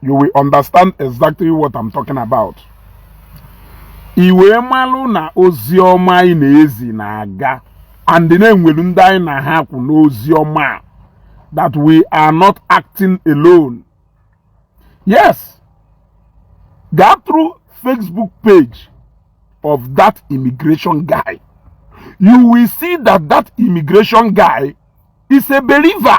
you will understand exactly what I'm talking about i wee malụ na ozi ọma anyị na-ezi na-aga and na e nwelu ndị anyị na ha kwụ n'ozi ọma a that we are not acting alone. Yes, go through Facebook page of that immigration guy. You will see that that immigration guy is a believer.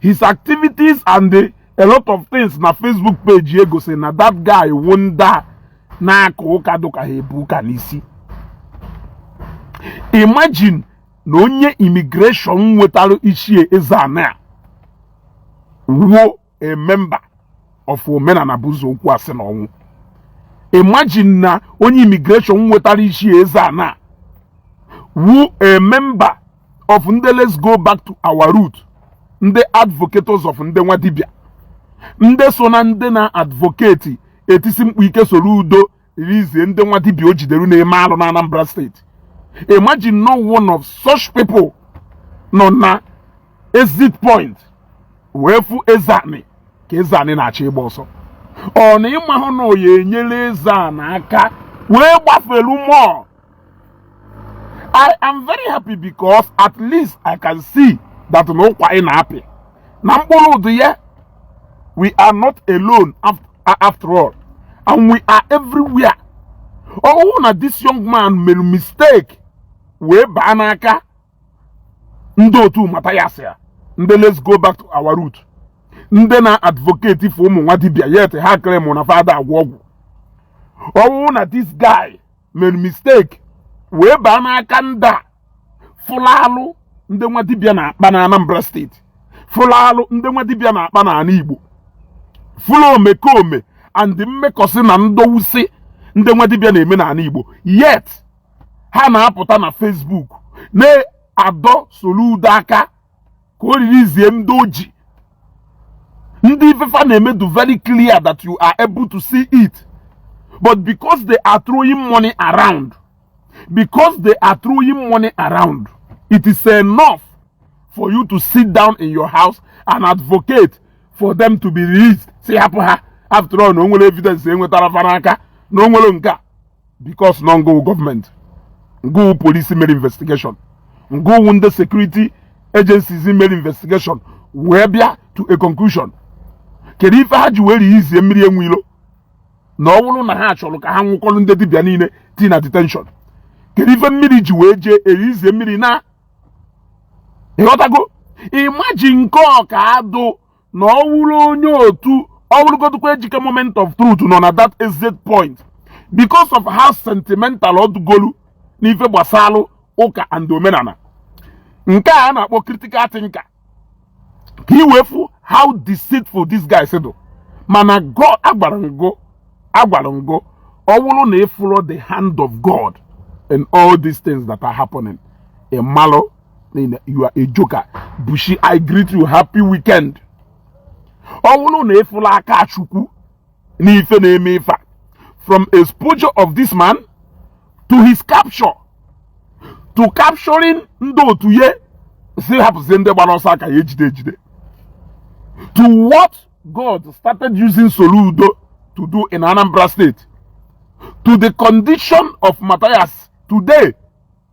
his activities and a lot of things na Facebook page ya gosiri na that guy wụ ndị a na-aka ụka dụka ha ebu ụka n'isi imagine na onye immigration nwetara Ichie Ezeana wụ a member of omenana bụ ụzọ okwu asị na ọnwụ imagine na onye immigration nwetara Ichie Ezeana wụ a member of ndị let's go back to our root ndị advocates of ndị nwa dibịa ndị so na ndị na-advocate etisi mkpu ike Soludo release ndị nwa dibịa o jidere na-eme alụ na Anambra steeti imagine na one of such people nọ na exit point wee fụ Ezeani ka Ezeani na-achọ ịgba ọsọ ọ na ị mahụ na ọ ya-enyere Ezeani aka wee gbafelu mmụọ I am very happy because at least I can see that na ụkwa anyị na-apị na mkpụrụ dị ya we are not alone after all and we are everywhere ọ wụrụ na this young man mere mistake wee baa n'aka ndị otu Mathias a ndị let's go back to our root ndị na-advocate for ụmụ nwa dibia yet ha claim na fa ada agwọ ọgwụ ọ wụrụ na this guy mere mistake wee baa n'aka ndị a fụlụ alụ ndị nwa dibịa na-akpa na Anambra steeti fụlụ alụ ndị nwa dibịa na-akpa na ala Igbo fụlụ omekome and mmekọsị na ndọwụsị ndị nwa dibịa na-eme n'ala Igbo yet ha na-apụta na Facebook na-adọ Soludo aka ka o release ndị o ji ndị ife fa na-eme dụ very clear that you are able to see it but because they are throwing money around because they are throwing money around it is enough for you to sit down in your house and advocate for them to be released sị hapụ ha after all na o nwere evidence e nwetara fa n'aka na o nwere nke a because na ọ ngị wụ government ngị wụ police mere investigation ngị wụ ndị security agencies mere investigation wee bịa to a conclusion kedu ife ha ji wee release Mmiri Enwe Ilo na ọ bụrụ na ha chọrọ ka ha nwụkọrọ ndị dibịa niile tii na detention kedu ife Mmiri ji wee jee e release Mmiri na ịghọtago imagine nke ọka adụ na ọ wụrụ onye otu ọ wụrụgodịkwa ejike moment of truth nọ na that exit point because of how sentimental ọdụgolu n'ife gbasalụ ụka and omenana nke a na-akpọ critical thinker ka i wee fụ how deceitful these guys dụ mana God agwara ngo ọ wụrụ na ịfụrọ the hand of God in all these things that are happening ịmalụ you are a joker bushi i greet you happy weekend ọ wụrụ na ịfụrọ aka chukwu n'ife na-eme ife a from exposure of this man to his capture to capturing ndị otu ya sị hapụzie ndị gbara ọsọ a ka ya-ejide ejide to what God started using Soludo to do in Anambra State to the condition of Matthias today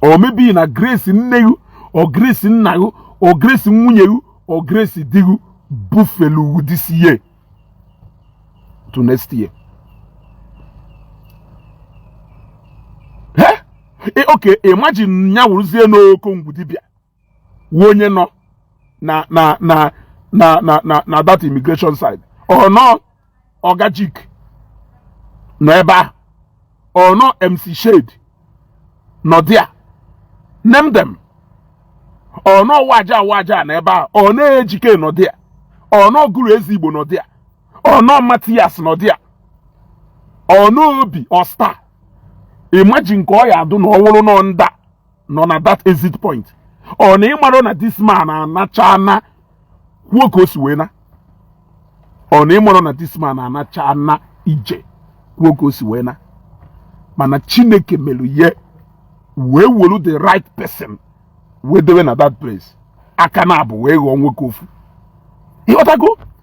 or maybe na grace nne ghụ or grace nna ghụ or grace nwunye ghụ or grace di ghụ bufelu this year to next year eh? eh, okay imagine nya wụrụzie n'okongwu dibịa wụ onye nọ na na na na na na na that immigration side or na ọgajik nọ ebe ahụ or na ọ mc shade nọ there name them or na ọ waja waja nọ ebe ahụ or na ọ ejike nọ there or na ọ guru ezi igbo nọ there or na ọ matthias nọ there or na ọ obi ọsta imagine ka ọ ya adụ na ọ wụrụ na ọ ndị a nọ na that exit point ọ na ịmarọ na this man anacha na kwuo ka o si wee na ọ na ịmarọ na this man anacha na ije kwuo ka o si wee na mana chineke mere ye wee wolu the right person wee dewe na that place aka naabọ wee ghọọ nwoke ofu ịghọtago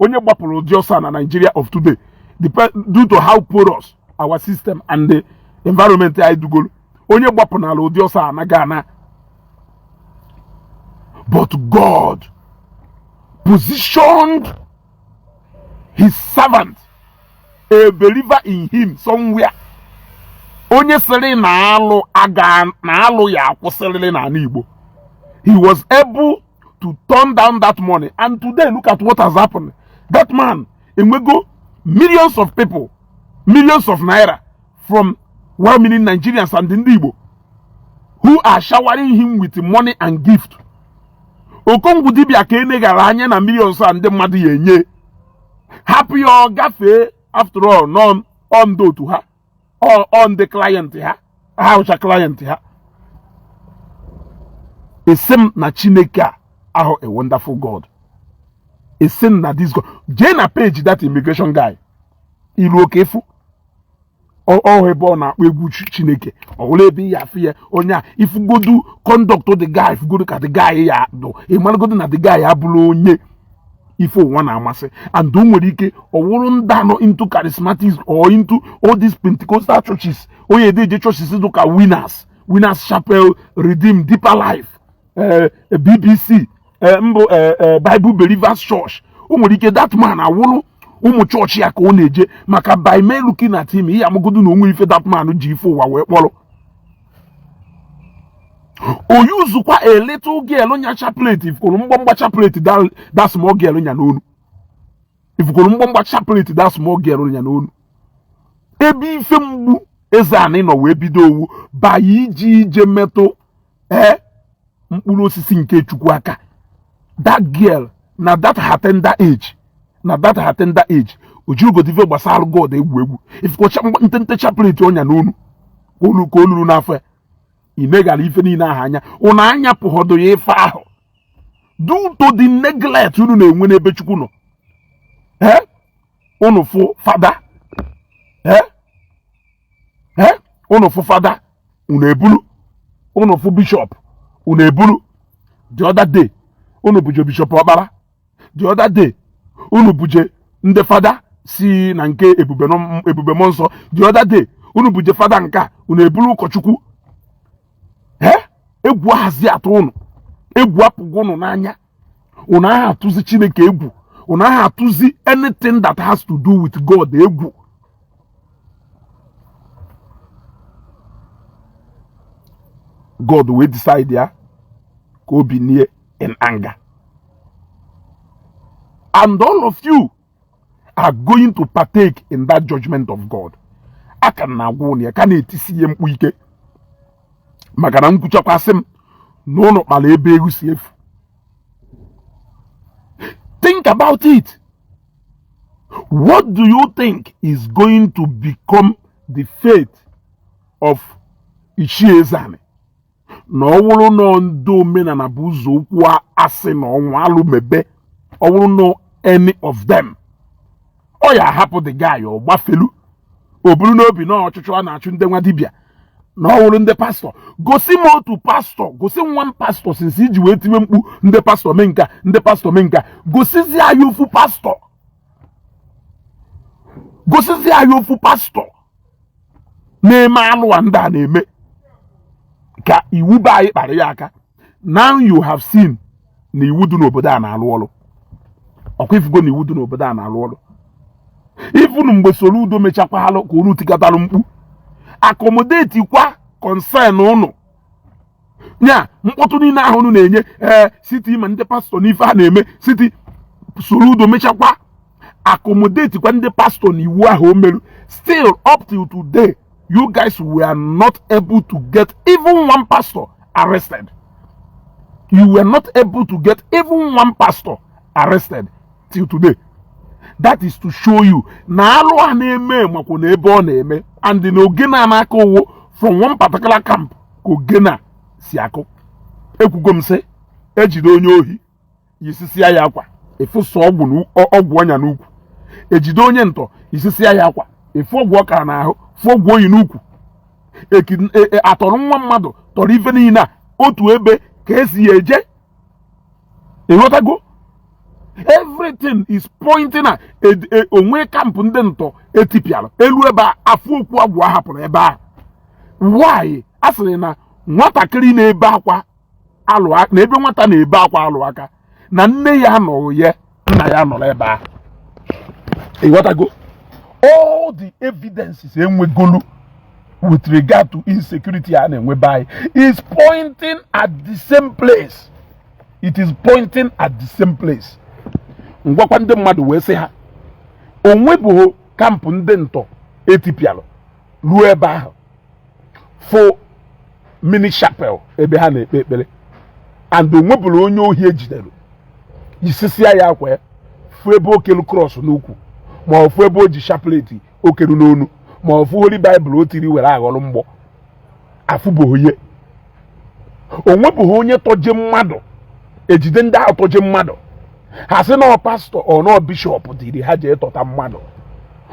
onye gbapụla ụdị ọsọ a na Nigeria of today due to how porous our system and the environment anyị dugoro onye gbapụnala ụdị ọsọ a anago ana but God positioned his servant a believer in him somewhere onye sịrị na alụ aga na alụ ya akwụsịrịrị n'ana Igbo he was able to turn down that money and today look at what has happened that man enwego millions of people millions of naira from well meaning Nigerians and ndị Igbo who are showering him with money and gift okongwu dibia ka enegara anya na millions a ndị mmadụ ya enye hapụ ya ọ gafee after all na ọ ndị otu ha. ọ ndị client ha ha hụcha client ha asị m na chineke a ahụ a wonderful god asị m na this god jee na page that immigration guy i luo ka ị fụ ọ hụ ebe ọ na-akpọ egwu chineke ọwụla ebe ya afụ ya onye a ị fụgodu conduct the guy ị fụgodu ka the guy ya dụ ị malagodu na the guy abụrọ onye ife ụwa na-amasị and o nwere ike ọ wụrụ ndị a nọ into charismatics or into all these pentecostal churches onye edeje churches dị ka winners winners chapel redeem deeper life eh, eh, bbc eh, mbụ bible believers church o nwere ike that man awụrụ ụmụ church ya ka ọ na-eje maka by me looking at him ị ya-amagodu na o nwe ife that man ji ife ụwa wee kpọrọ o yuzukwa a little girl nya chaplet ifukoro mgbamgba chaplet that small girl nya n'onu ifukoro mgbamgba chaplet that small girl nya n'onu ebe ife mgbu ezeani nọ wee bido ọ wụ ba ya iji ije metụ ee eh, mkpụrụ osisi nke chukwu aka that girl na that her tender age na that her tender age o jihọgodu ife gbasara god egwu egwu ifekọcha ntente chaplet ọ nya n'onu ka o lulu n'afọ ya i negara ife niine ahụ anya unu anyapụhọdụ ya ife ahụ due to the neglect unu na-enwe n'ebe chukwu nọ ee unu fụ fada ee ee unu fụ fada unu ebulu unu fụ bishọp unu ebulu the other day unu buje bishọp ọkpara the other day unu buje ndị fada si na nke ebube mmụọ nsọ the other day unu buje fada nke a unu ebulu ụkọchukwu ee egwu ahazi atụ unu egwu apụgo unu n'anya unu aha atụzi chineke egwu unu aha atụzi anything that has to do with god egwu god wee decide ya ka o binie in anger and all of you are going to partake in that judgment of God a ka m na-agwa ụnụ ya ka na-etisi ihe mkpu ike maka na nkwuchakwasị m na ụnụ kpara ebe eghu si efu think about it what do you think is going to become the fate of Ichie Ezeani na ọ wụrụ na ndị omenala bụ ụzọ okwu asị na ọnwa alụmebe ọ wụrụ na any of them ọ ya-ahapụ the guy ọ gbafelu o buru n'obi na ọchụchụ a na-achụ ndị nwa dibịa na ọ wụrụ ndị pastọ gosi m otu pastọ gosi nwa m pastọ since i ji wee tiwe mkpu ndị pastọ mee nka ndị pastọ mee nka gosizi anyị ofu pastọ gosizi anyị ofu pastọ na-eme alụ a ndị a na-eme ka iwu be anyị kpara ya aka now you have seen na iwu dị n'obodo a na-alụ ọrụ ọkwa ịfụgo na iwu dị n'obodo a na-alụ ọrụ even mgbe soludo mechakwalụ ka unu tikatara mkpu accommodate kwa concern unu ya mkpọtụ niile ahụ unu na-enye ee eh, sị tii ma ndị pastọ n'ife a na-eme sị tii soludo mechakwa accommodate kwa ndị pastọ na iwu ahụ o meru still up till today you guys were not able to get even one pastor arrested you were not able to get even one pastor arrested till today that is to show you na alụ a na-eme makwa na ebe ọ na-eme and na ogene a na-akụ ọ wụ from one particular camp ka ogene a si akụ ekwugo m sị ejide onye ohi yisisia ya akwa ịfụsa ọgwụ ọ nya n'ukwu ejide onye ntọ yisisia ya akwa ịfụ ọgwụ ọ kara n'ahụ fụ ọgwụ o yi n'ukwu e, e, atọrọ nwa mmadụ tọrọ ife niile a otu ebe ka esi ya eje ịghọtago everything is pointing at e, o nwe kampụ ndị ntọ etipịara eluo ebe a afụ okwu agwụ ahapụrụ ebe a why a sịrị na nwatakịrị na-ebe akwa alụ aka na ebe nwata na-ebe akwa alụ aka na nne ya anọghị ya nna ya nọlụ ebe ahụ ịghọtago all the evidences enwegolu with regard to insecurity a na-enwe be anyị is pointing at the same place it is pointing at the same place m gwakwa ndị mmadụ wee sị ha onwebughị kampụ ndị ntọ etipialụ ruo ebe ahụ fụ mini chapel ebe ha na-ekpe ekpere and onwebụrụ onye ohi ejidere yisisia ya akwa fụ ebe o kelu krọs n'ukwu ma ọ fụ ebe o ji chapleti okelu n'onu ma ọ fụ holy baịbụl o tiri were aghọrọ mgbọ afụbụghị ya onwebụghị onye tọje mmadụ ejide ndị ahụ tọje mmadụ ha sị na ọ pastọ or na ọ bishọp ziri ha jee tọta mmadụ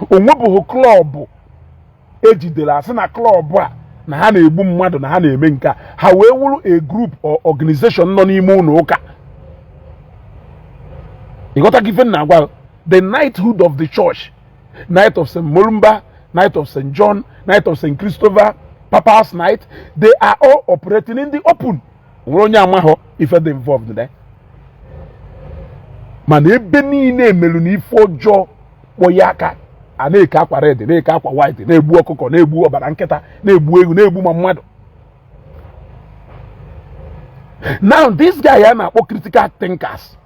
onwebụghị klọbụ ejidere asị na klọb a na ha na-egbu mmadụ na ha na-eme nke a ha wee wụrụ a group or organization nọ n'ime ụlọ ụka ịghọtago ife m na-agwa the knighthood of the church knight of st mulumba knight of st john knight of st christopher papa's knight they are all operating in the open nwere onye amaghọ ife dị involved there mana ebe niile emerụ na ife ọjọọ kpọ ya aka a na-eke akwa red na-eke akwa white na-egbu ọkụkọ na-egbu ọbala nkịta na-egbu ewu na-egbu ma mmadụ now this guy a na-akpọ critical thinkers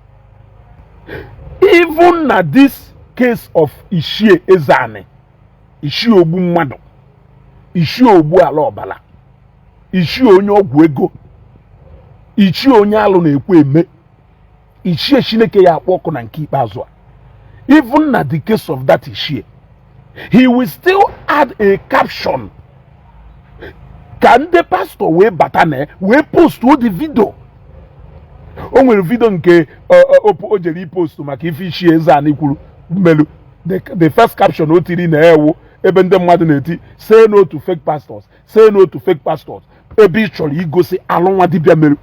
even na this case of Ichie Ezeani Ichie ogbu mmadụ Ichie ogbu ala ọbala ichie onye ọgwụ ego ichie onye alụ na-ekwu eme ichie chineke ya akpọ ọkụ na nke ikpeazụ a even na the case of that ichie he will still add a caption ka ndị pastor wee bata na wee postuo the video o nwere video nke o jere ipostu maka ife ichie ezeani kwuru melu the first caption o tiri na ya wụ ebe ndị mmadụ na-eti say no to fake pastors say no to fake pastors ebe ị chọrọ igosi alụ nwa dibịa merụ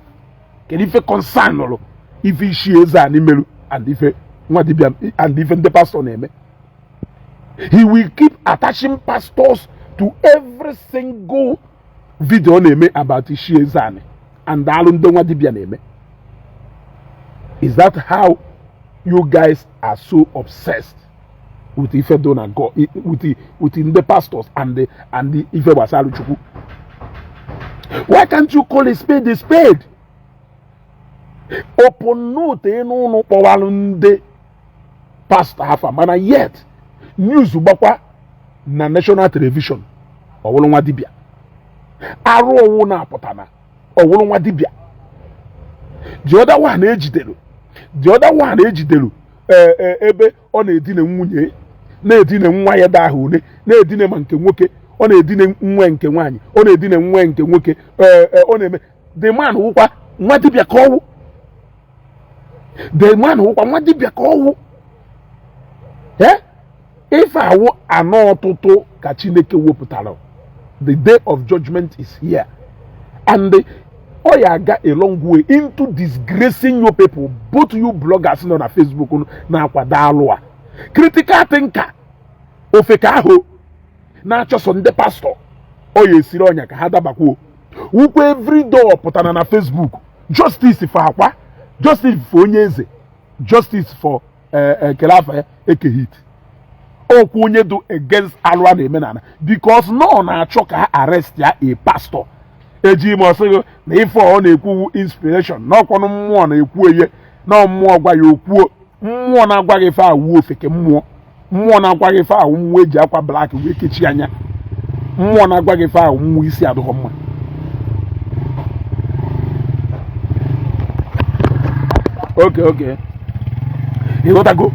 kedu ife concernụrụ ife ichie ezeani merụ and ife nwa dibịa and ife ndị pastor na-eme he will keep attaching pastors to every single video ọ na-eme about ichie ezeani and alụ ndị nwa dibịa na-eme is that how you guys are so obsessed with ife do na God with with ndị pastors and the and the ife gbasarụ chukwu why can't you call a spade a spade upon na o teenụ ụnụ kpọwalụ ndị pastor afa mana yet news gbakwa na national television ọ wụrụ nwa dibịa arụ ọwụna pụtana ọ wụrụ nwa dibịa the other one ejidere the other one ejidere e, e, ebe ọ na-edina nwunye na-edina nwa ya ada ahụ na-edina ma nke nwoke ọ na-edina nwa nke nwaanyị ọ na-edina nwa nke nwoke e, ọ na-eme the man wụkwa nwa dibịa ka ọ wụ the man wụkwa nwa dibịa ka ọ wụ ife a wụ anọ ọtụtụ ka chineke wepụtara the day of judgment is here and ọ ya aga a long way into disgracing you people both you bloggers nọ na facebook na-akwado alụ a critical thinker ofeke ahụ na-achọ sọ ndị pastor ọ ya esiri ọnya ka ha dabakwuo wụkwa everyday pụtara na facebook justice for akwa justice for onye eze justice for kelu eh, eh, afa ya Eke Hit okwu onye dụ against alụ a na-eme n'ana because na ọ na-achọ ka ha arrest ya a pastor eji ime ọ sị gị na ife ọ na-ekwu wụ inspiration na ọ kwanụ mmụọ na-ekwu eye na mmụọ gwa ya o kwuo mmụọ na-agwa gị ife a wụ ofeke mmụọ mmụọ na-agwa gị ife a wụ mmụọ e ji akwa black wee kechie anya mmụọ na-agwa gị ife a wụ mmụọ isi adịghọ mma okay okay ịghọtago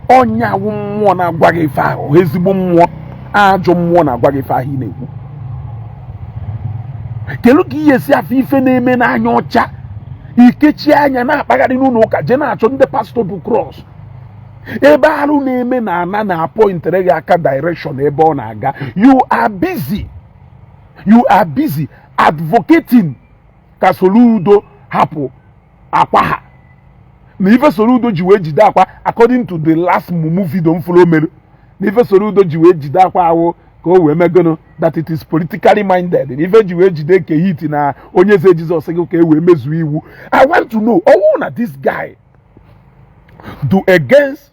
ọ nya wụ mmụọ na-agwa gị ife ahụ ezigbo mmụọ ajọ mmụọ na-agwa gị ife ahụ ị na-ekwu kelu ka ị ya-esi afụ ife na-eme n'anya ọcha i kechie anya na-akpagharị n'ụlọ ụka jee na-achọ ndị pastọ bu cross ebe arụ na-eme na ana na-apọintere gị aka direction ebe ọ na-aga you are busy you are busy advocating ka Soludo hapụ Akwa ha na ife Soludo ji wee jide Akwa according to the last mumu video m fụrụ o mere na ife Soludo ji wee jide Akwa wụ ka o wee mee gụnụ that it is politically minded na ife e ji wee jide Eke Hit na Onye Eze Jizọs gị ka e wee mezuo iwu i want to know ọ wụ na this guy dụ against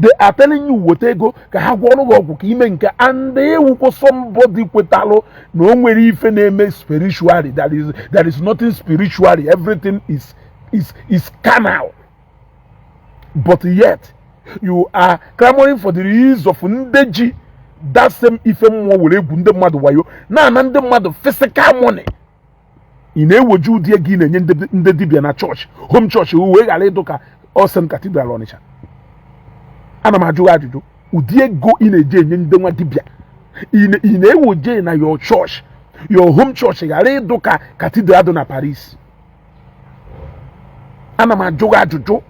they are telling you weta ego ka ha gwọọrọ gị ọgwụ ka i mee nke a and ị wụkwọ somebody kwetalụ na o nwerọ ife na-eme spiritually that is there is nothing spiritually everything is is is carnal but yet you are clamoring for the release of ndị ji that same ife mmụọ were egwu ndị mmadụ wayo na-ana ndị mmadụ physical money ị na-ewoje ụdị ego ị na-enye ndị dibịa na chọọchị home chọọchị wee ghara ịdụ ka All Saints Cathedral Ọnịcha ana m ajụ ajụjụ ụdị ego ị na-eje enye ndị nwa dibịa ị na-ewoje na your chọọchị your home chọọchị ghara ịdụ ka Cathedral dị na Paris ana m ajụ ajụjụ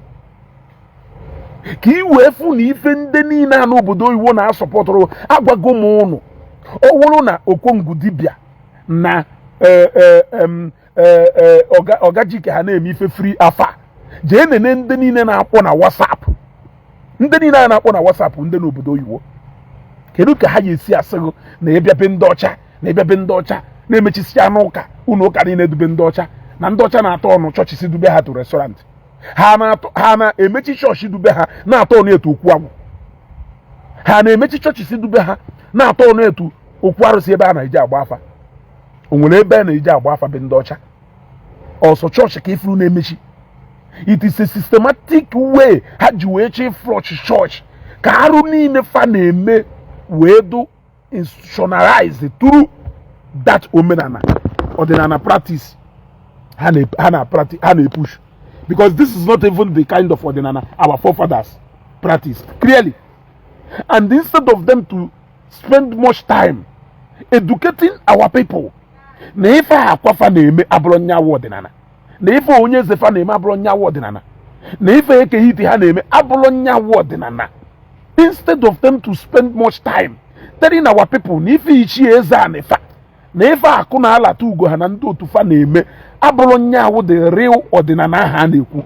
ka ị wee fụ na ife ndị niile a n'obodo oyibo na-asọpọtụrụ agwago m ụnụ ọ wụrụ na okongwu dibịa na eh, eh, em, eh, eh, ọga ọga jike ha na-eme ife free afa jee nene ndị niile na-akpọ na whatsapp ndị niile a na-akpọ na whatsapp ndị n'obodo oyibo kedu ka ha ga-esi asị gị na ị bịa be ndị ọcha na ị bịa be ndị ọcha na-emechisi ụnọ ụka ụlọ ụka niile dụ be ndị ọcha na ndị ọcha na-aturnụ churches dụ be ha to restaurant ha na-atọ- ha na-emechi chọọchị dụ be ha na-aturnụ ya to okwu agwụ ha na-emechi churches dụ be ha na-aturnụ ya to okwu arụsị ebe a na-eji agba afa o nwere ebe a na-eji agba afa be ndị ọcha ọ sọ chọọchị ka ị furu na-emechi it is a systematic way ha ji wee chọ iflush chọọchị ka arụ niile fa na-eme wee dụ institutionalized through that omenala ọdịnala practice ha na-epush because this is not even the kind of ọdịnala our forefathers practice clearly and instead of them to spend much time educating our people na ife Akwa fa na-eme abụrọ nya wụ ọdịnala na ife Onyeze fa na-eme abụrọ nya wụ ọdịnala na ife Eke Hit ha na-eme abụrọ nya wụ ọdịnala instead of them to spend much time telling our people na ife Ichie Ezeanị fa na ife akụ na alata ugo ha na ndị otu fa na-eme abụrọ nya wụ the real ọdịnala ha na-ekwu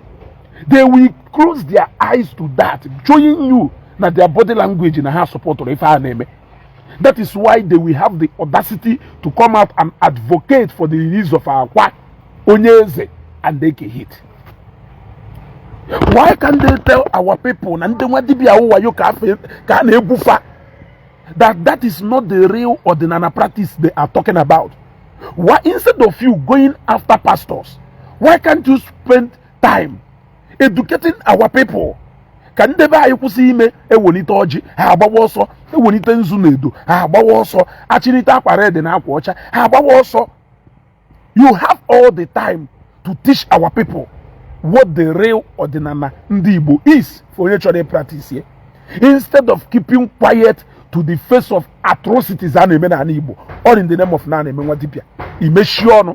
they will close their eyes to that showing you na their body language na ha supportụrụ ife a na-eme that is why they will have the audacity to come out and advocate for the release of Akwa Onyeze and Eke Hit why can't they tell our people na ndị nwa dibịa wayo ka a na-egwu fa that that is not the real ọdịnala practice they are talking about why instead of you going after pastors why can't you spend time educating our people ka ndị be anyị kwụsị ime e wenite ọjị ha agbawa ọsọ e wenite nzu na edo ha agbawa ọsọ a chịnite akwa red na akwa ọcha ha agbawa ọsọ you have all the time to teach our people what the real ọdịnala ndị Igbo is for onye chọrọ practice ye instead of keeping quiet to the face of atrocities a na-eme n'ala Igbo all in the name of na na-eme nwa dibịa i mechi ọnụ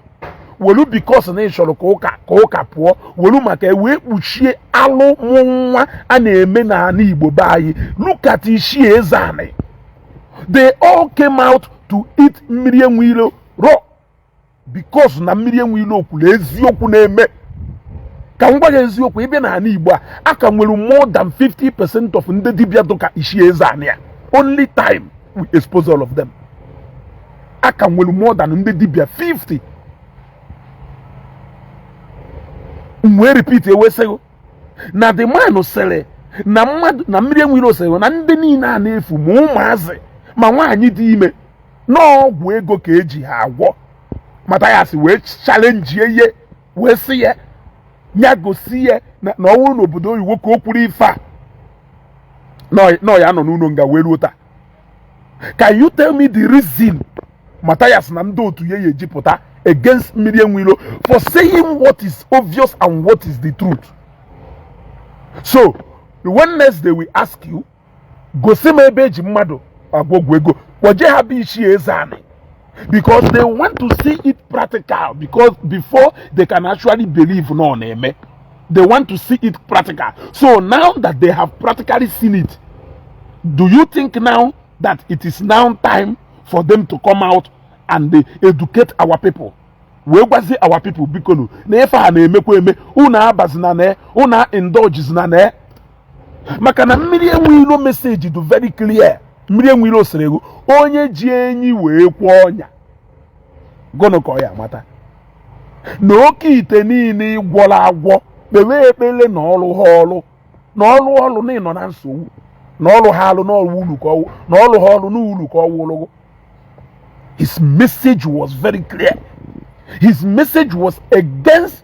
welu because na ị chọrọ ka ụka ka ụka pụọ welu maka wee kpuchie alụ nwa a na-eme n'ala Igbo be anyị look at Ichie Ezeanị they all came out to eat Mmiri Enwe Ilo raw because na Mmiri Enwe Ilo kwuru eziokwu na-eme ka m gwa gị eziokwu ị bịa n'ala Igbo a a ka nwere more than 50 percent of ndị dibịa dụ ka Ichie Ezeanị a only time will expose all of them a ka nwere more than ndị dibịa 50 wee repeat e wee sị gị na the man sịrị na mmadụ na Mmiri Enwe Ilo sịrị na ndị niile a na-efu ma ụmụazị ma nwaanyị dị ime n'ọgwụ ego ka e ji ha agwọ Mathias wee challengie ye wee sị ya ya gosi ya na ọ bụrụ n'obodo oyibo ka o kwuru ife a na ya nọ n'ụlọ nga wee ruo taa can you tell me the reason Mathias na ndị otu ya ya-eji pụta against Mmiri Enwe Ilo for saying what is obvious and what is the truth so when next they will ask you gosi m ebe eji mmadụ agwọ ọgwụ ego kpọje ha be ichie Ezeani because they want to see it practical because before they can actually believe na ọ na-eme they want to see it practical so now that they have practically seen it do you think now that it is now time for them to come out and they educate our people wee gwazie our people bikonu na ife a na-emekwa eme unu abazina na unu indulgezina na maka na mmiri enwe ilo message dụ very clear mmiri enwe ilo sịrị gụ onye ji enyi wee kwe ọnya gụnụ ka ọ ya-amata na oke ite niile ị gwọla agwọ kpewe ekpele na ọ rụha ọrụ na ọ rụọ ọrụ na ị nọ na nsogbu na ọ rụha alụ n'ọrụ ulu ka ọ wụ na ọ rụha ọrụ n'ulu ka ọ wụụlụ gụ his message was very clear his message was against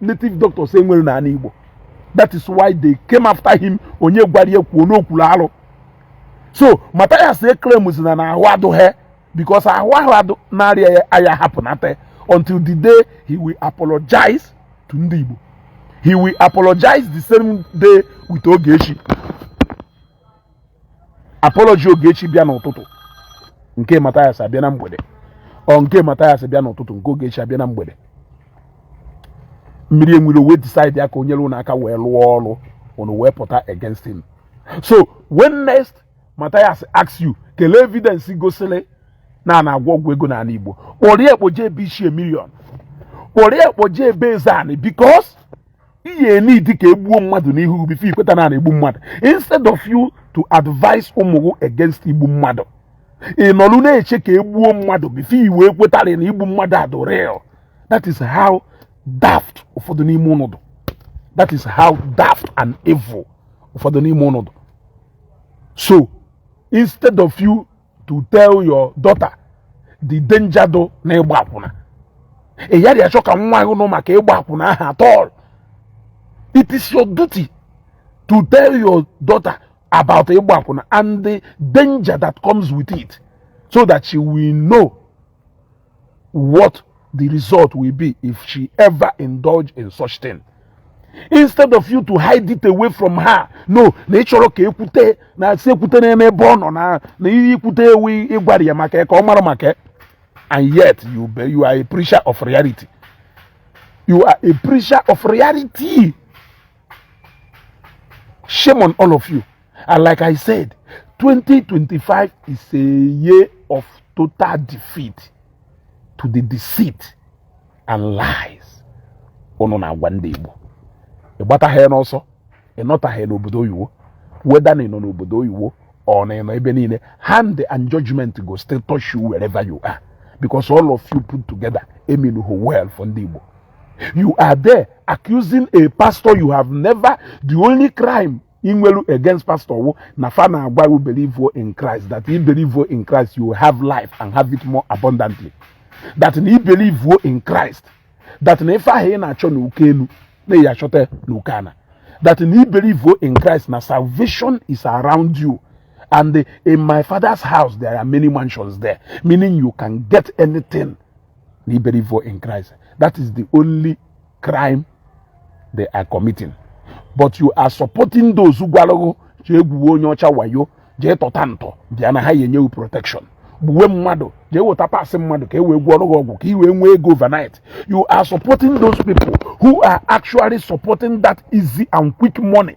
native doctors enwere n'ala Igbo that is why they came after him onye gwara ya kwuo na o kwuru alụ so Mathias claims na n'ahụ adụghị because ahụ ahụ adụ na-arịa ya aya hapụnata until the day he will apologize to ndị Igbo he will apologize the same day with Ogechi apology Ogechi bịa n'ụtụtụ nke Mathias abịa na mgbede or nke Mathias bịa n'ụtụtụ nke Ogechi abịa na mgbede mmiri enwe ilo wee decide ya ka o nyelụ unu aka wee lụọ ọrụ unu wee pụta against him so when next Mathias asks you kelee evidence gosiri na a na-agwọ ọgwụ ego n'ala Igbo kpọrọ ya kpọje ebe Ichie Million kpọrọ ya kpọje ebe Ezeani because ị ya-need ka egbuo mmadụ n'ihu gị before i kweta na egbu mmadụ instead of you to advise ụmụ gị against igbu mmadụ ị nọrụ na-eche ka egbuo mmadụ before i wee kwetara na igbu mmadụ adụ real that is how daft ụfọdụ n'ime unu dụ that is how daft and evil ụfọdụ n'ime unu dụ so instead of you to tell your daughter the danger dụ na ịgba akwụna ị yaghị achọ ka nwa ahụ nụ maka ịgba akwụna ahụ at all it is your duty to tell your daughter about ịgba akwụna and the danger that comes with it so that she will know what the result will be if she ever indulge in such thing instead of you to hide it away from her no na ị chọrọ ka ekwute na asị ekwute na ebe ọ nọ na na ihe ikwute ya wụ ịgwara ya maka ya ka ọ mara maka ya and yet you be you are a preacher of reality you are a preacher of reality Shame on all of you. And like I said, 2025 is a year of total defeat to the deceit and lies unu na-agwa ndị Igbo ị gbataha n'ọsọ ị nọtaha n'obodo oyiwo whether na ị nọ n'obodo oyiwo or na ị nọ ebe niile hand and judgment go still touch you wherever you are because all of you put together emenuho well for ndị Igbo you are there accusing a pastor you have never the only crime inwelu against pastor wo na fa na-agwa you believe in Christ that you believe in Christ you have life and have it more abundantly that na believe in Christ that na ife ahụ ị na-achọ na oke elu na ya achọta na oke ana that na believe in Christ na salvation is around you and in my father's house there are many mansions there meaning you can get anything na ị believe in Christ that is the only crime they are committing but you are supporting those gwalụ ghụ jee gwuwe onye ọcha wayo jee tọta ntọ bịa na ha ya enye wụ protection gbuwe mmadụ jee weta parts mmadụ ka e wee gwọrọ gị ọgwụ ka i wee nwee ego overnight you are supporting those people who are actually supporting that easy and quick money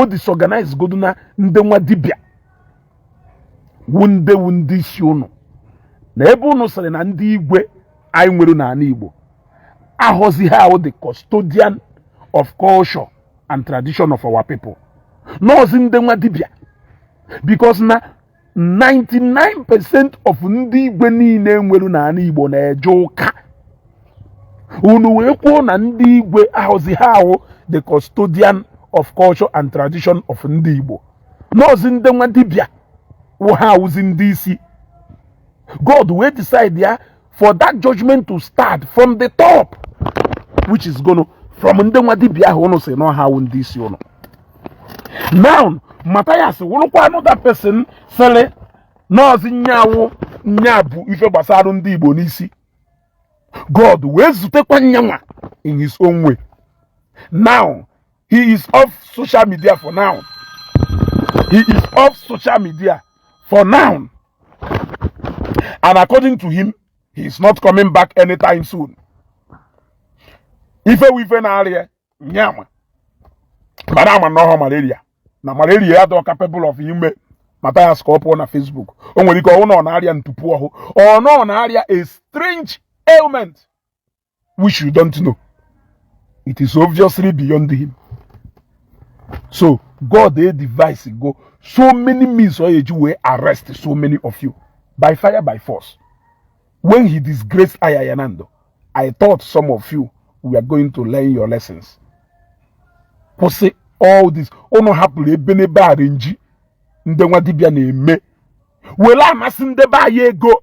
o disorganize godu na ndị nwa dibịa wu ndị wu ndị isi ụnụ na ebe ụnụ sịrị na ndị igwe anyị nwere n'ana Igbo awụziha awụ the custodian of culture and tradition of our people nọọzi ndị nwa dibịa because na 99% of ndị igwe niile e nwere n'ana Igbo na-eje ụka unu wee kwuo na ndị igwe awụziha awụ the custodian of culture and tradition of ndị Igbo nọọzi ndị nwa dibịa wụ ha awụzi ndị isi God wee decide ya for that judgment to start from the top which is gonna from ndị nwa dibia ahụ ụnụ si na ọ ha wụ ndị isi ụnụ now Matthias wụrụkwa another person sịrị nọọzi nya wụ nya bu ife gbasara ndị Igbo n'isi God wee zutekwa nyanwa in his own way now he is off social media for now he is off social media for now and according to him he is not coming back anytime soon ife wụ ife na-arịa nya ma mana a ma na ọ wụha malaria na malaria adịhọ capable of ime Matthias ka ọ pụọ na Facebook o nwere ike ọ wụ na ọ na-arịa ntupu ọhụ or na ọ na-arịa a strange ailment which you don't know it is obviously beyond him so god edevisego so many means ọ ya-eji wee arrest so many of you by fire by force when he disgraced ayayanando i thought some of you were going to learn your lessons kwụsị all this ụnụ hapụrụ ebenebe arrangee ndị nwa dibịa na-eme were amasị ndị be anyị ego